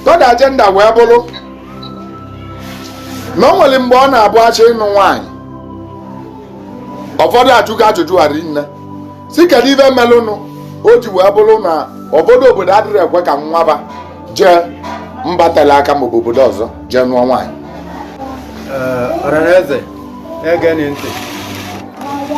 third agenda wee bụrụ na o nwere mgbe ọ na-abụ a chọọ ịnụ nwaanyị ụfọdụ ajụgo ajụjụ a rinne sị kedu ive melụnụ o ji wee bụrụ na ụfọdụ obodo adịrọ ekwe ka nwa va jee mba tele aka maọbụ obodo ọzọ jee nụọ nwaanyị ọranaeze na-egeni ntị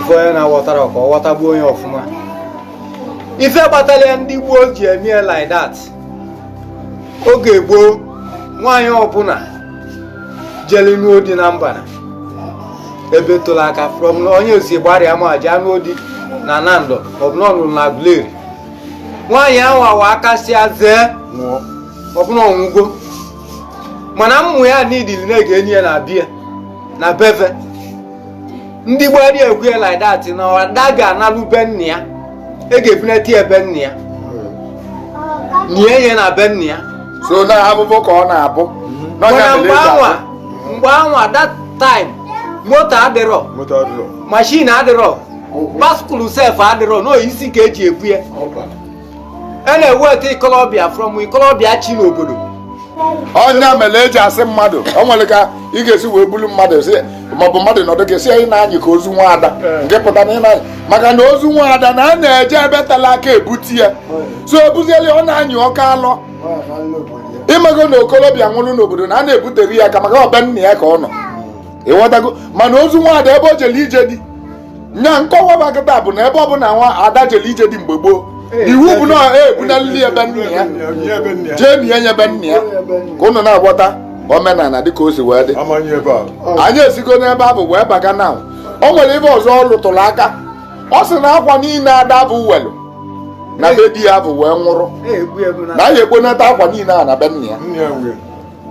ife onye na-aghọtara ka ọ ghọtagbuo onye ọfụma ife kpatara ya ndị gboo ji eme ya like that oge gboo nwaanyị ọbụla jeli nụọ di na mbara ebe telu aka from na onye si Igbariam jee nụọ di na Nando ọ bụ na ọ nụrụ na Aguleri nwaanyị ahụ anwa akasịa zee nwụọ ọ bụ na ọ nwụgo mana ụmụ ya nidili na a ga-eni ya na bie na be ve ndị gboo adị ekwu ya like that na ada ga-analụ be nna ya e ga-ebunata ya be nna ya nie ya na be nna ya so na abụbụ ka ọ na-abụ mana mgbe anwa mgbe anwa that time moto adịrọ mashin adịrọ baskụl sef adịrọ n'isi ka e ji ebu ya a na-eweta ikolobịa from ikolobịa chi n'obodo ọ nya mere e ji asị mmadụ o nwere ka ị ga-esi wee bulu mmadụ sị maọbụ mmadụ nọdụ gị sị ị na-anyị ka ozu nwa ada nke pụta na ị na maka na ozu nwa ada na a na-eje ebe tala aka ebute ya so ebuzieli ọ na-anyị oke alọ ị mago na okolobịa nwụrụ n'obodo na a na-ebutere ya aka maka ọ be nna ya ka ọ nọ ị ghọtago mana ozu nwa ada ebe o jere ije di nya nkọwa va kịta bụ na ebe ọ bụla nwa ada jere ije di mgbe gboo iwu bụ na e ebunalili ebe nna ya jee nie ya na be nna ya ka ụnụ na-aghọta omenala dịka o si wee dị anyị esigo n'ebe ahụ wee baga na o nwere ebe ọzọ ọ lụtụrụ aka ọ sị na akwa niile ada ahụ nwelu na be di ya ahụ wee nwụrụ na e je-ekponata akwa niile a na be nna ya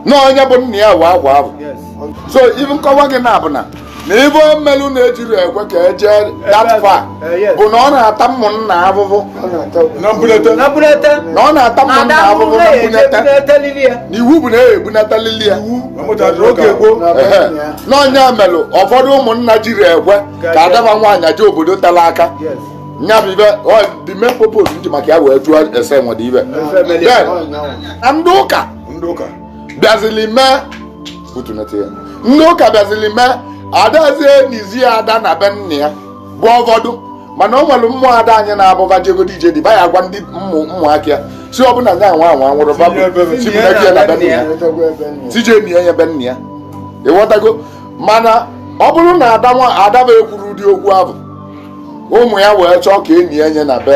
na onye bụ nna ya nwe akwa ahụ so ive nkọwa gị na abụ na ive melụ na ejirọ ekwe ka e je that far bụ na ọ na-ata ụmụnna ahụhụ na mbunete na bunete na ọ na-ata ụmụnna ada ahụhụ ahụhụ na na-eje mbunete bunetelili ya na iwu bụ na e ebunatalili ya oge gboo Ehe. na ọ nya melụ ụfọdụ ụmụnna jirọ ekwe ka ada va nwaanyị jee obodo tara aka nya bụ ive the main purpose m ji maka ya wee jụọ ese nwere ive Then, na ndị ụka ndị ụka bịazili mee ndị ụka bịazili mee adịzi enizi ada na be nna ya bụ ụfọdụ mana o nwere ụmụ ada anyị ọ na-abụ va jegodi ije di va agwa ndị ụmụaka ya sị ọ bụ na nya nwa anwa nwụrụ sị je nie ya be nna ya ị ghọtago mana ọ bụrụ na ada ahụ ekwurọ ụdị okwu ahụ ụmụ ya wee chọọ ka e nie ya na be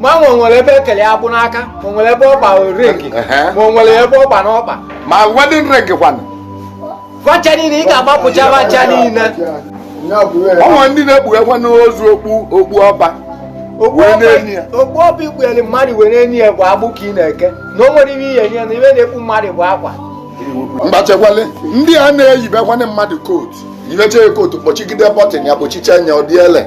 ma nwe nwere ebe e kele agbụ n'aka ma o nwere ebe ọ gba ring ma o nwere ebe ọ gba n'ọkpa ma wedding ring kwanụ va ncha niile ị ga-agbapụcha va ncha niile o nwe ndị na-ekpughekwa n'ozu okpu okpu ọba okpu ọba ikpugheli mmadụ were eni ya bụ agbụ ka ị na-eke na o nwere ihe ihe nye na ive a na-ekpu mmadụ bụ akwa mgbachekwale ndị a na-eyibekwana mmadụ kootu yibecha ya kootu kpọchigide bọtịn ya kpọchicha nya ọ dị ele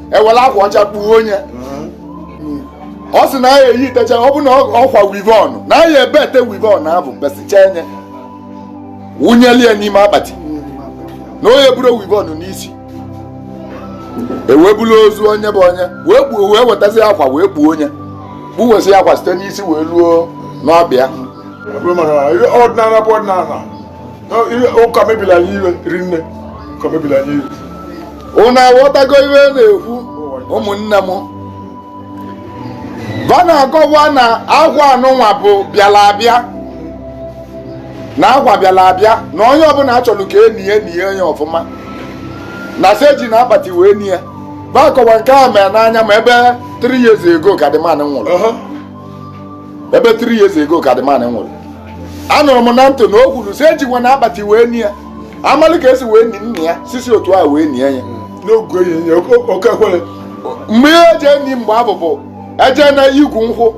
e were akwa ọcha kpuo onye ọ sị na ya eyi itecha ọ bụ na ọ kpa weavon na ya ebete weavon abụ mbesicha enye wụnyelie n'ime akpati na onye buru weavon n'isi e wee buru ozu onye abụ onye wee kpuo wee wetazi akwa wee kpuo onye kpuwesị akwa site n'isi wee luo n'ọkpa ọdịnala bụ ọdịnala ụka mebiri anyị ive rinne ụka mebiri anyị ive unu aghọtago ive m na-ekwu ụmụnne m va na-akọwa na agwa anụnwa bụ bịara abịa na agwa bịara abịa na onye ọbụla chọrọ ka e nie ya e nie ya onye ọfụma na sị ejina akpati wee nie va akọwa nke a mere n'anya m ebe 3 years ago ka the man nwụrụ ebe 3 years ago ka the man nwụrụ anụrụ m na ntị na o kwuru sị ejikwana akpati wee nie ya a malị ka e si wee nie nna ya sị si otu a wee nie ya n'oge ehihie oke- oke ekwere mgbe ihe e ji eni mgbe abụ bụ eje na igu nkwụ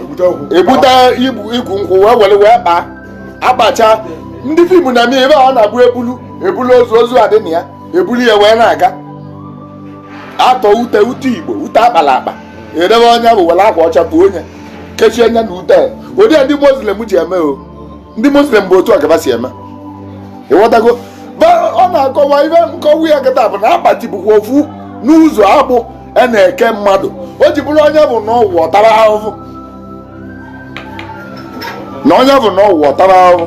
ebute igu ebute igu igu nkwụ wee were wee kpaa akpacha ndị fim na-eme ebe a ọ na-abụ ebulu ebulu ozu ozu adị na ya ebulu ya wee na-aga a tọọ ute ute igbo ute a kpala akpa e debe onye abụ were akwa ọcha kpuo onye kechie nya na ute ụdị a ndị muslim ji eme o ndị muslim bụ otu a ka va si eme ịghọtago ọ na-akọwa ive nkọwa ya kịta bụ na akpati bụkwa ofu n'ụzọ agbụ a na-eke mmadụ o ji bụrụ onye abụ nọọ ụwa ọ tara ahụhụ na onye abụ nọọ ụwa ọ tara ahụhụ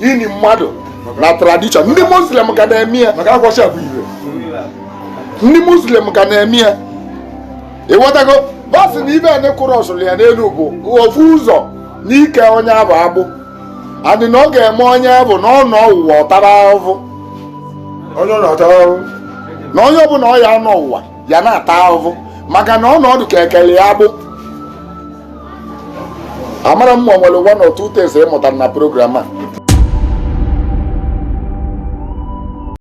ini mmadụ na tradition ndị muslim ka na-eme ya ndị muslim ka na-eme ya ịghọtago va sị na ive anyị kụrụ ọsụrụ ya n'elu bụ ofu ụzọ n'ike onye abụ agbụ and na ọ ga-eme onye abụ na ọ nọọ ụwa ọ tara ahụhụ onye ọ na-ata ahụhụ na onye ọbụla ọ ya nọọ ụwa ya na-ata ahụhụ maka na ọnọdụ ka e kele ya agbụ amara m ma o nwere one or two things ị mụtara na program a